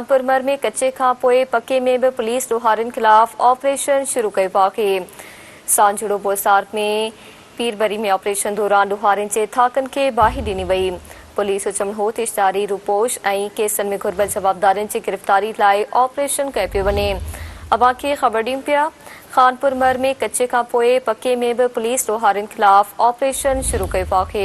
پرمر ۾ ڪچي کان پوء پڪي ۾ به پوليس ڏوهارين خلاف آپريشن شروع ڪيو آهي. سانجهڙو بوسارڪ ۾ پيربري ۾ آپريشن دوران ڏوهارين جي ٿاڪن کي باهه ڏني وئي. پوليس جو چوڻ هو ته اشتهاري روپوش ۽ ڪيسن ۾ گهربل جوابدارن جي گرفتاري لاء آپريشن ڪيو پيو وڃي. اوهان کي خبر ڏيون پيا، خانپورمر ۾ ڪچي کان پوء پڪي ۾ به پوليس ڏوهارين خلاف آپريشن شروع ڪيو آهي.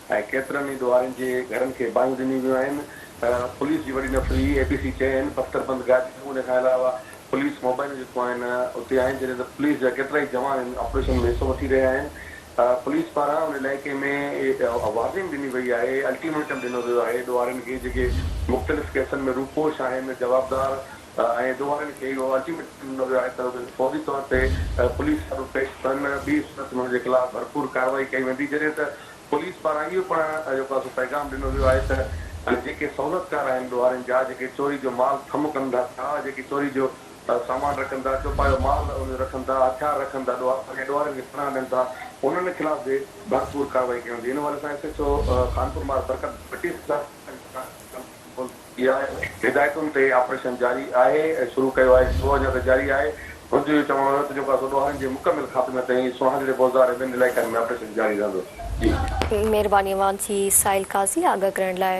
۽ ڪيترن ئي ڏوهارين جي گهرن کي باهيون ڏنيون ويون آهن ته پوليس جي وڏي نفري اي پي سي چيو آهن بختر بند گاڏي ۽ ان کان علاوه پوليس موبائلون جيڪو آهن اتي آهن جڏهن ته پوليس جا ڪيترائي جوان ان آپريشن ۾ حصو وٺي رهيا آهن پوليس پاران ان علائقي ۾ وارننگ ڏني وئي آهي الٽيميٽم ڏنو ويو آهي ڏوهارين کي جيڪي مختلف ڪيسن ۾ روپوش آهن جوابدار ۽ ڏوهارين کي اهو الٽيميٽم ڏنو ويو آهي ته اهي فوري طور تي پوليس سامهون پيش ٿين ٻي صورت ۾ انهن جي خلاف ڀرپور ڪارروائي ڪئي ويندي جڏهن ته پوليس پاران اهو پڻ جيڪو آهي سو پيغام ڏنو ويو آهي ته جيڪي سهولتڪار آهن ڏوهارين جا جيڪي چوري جو مال ٿم ڪن ٿا ڇا جيڪي چوري جو سامان رکن ٿا چوپايو مال ان جو رکن ٿا هٿيار رکن ٿا ڏوهارين ۽ ڏوهارين کي پناهه ڏين ٿا انهن خلاف به ڀرپور ڪارروائي ڪئي ويندي ان حوالي سان ايس ايڇ او خانپور مار برڪت ڀٽي صاحب اها هدايتن تي آپريشن جاري آهي ۽ شروع ڪيو آهي ڇو اڃا ته جاري آهي هن جو اهو چوڻ هيو ته جوڪاسو ڏوهارين جي مڪمل خاتمي تائين سوهاڳڙي بوزار ۽ ٻين علائقن ۾ آپريشن جاري رهندو. مهرباني اوهان سي سائل قاضي آگاهه ڪرڻ لاء.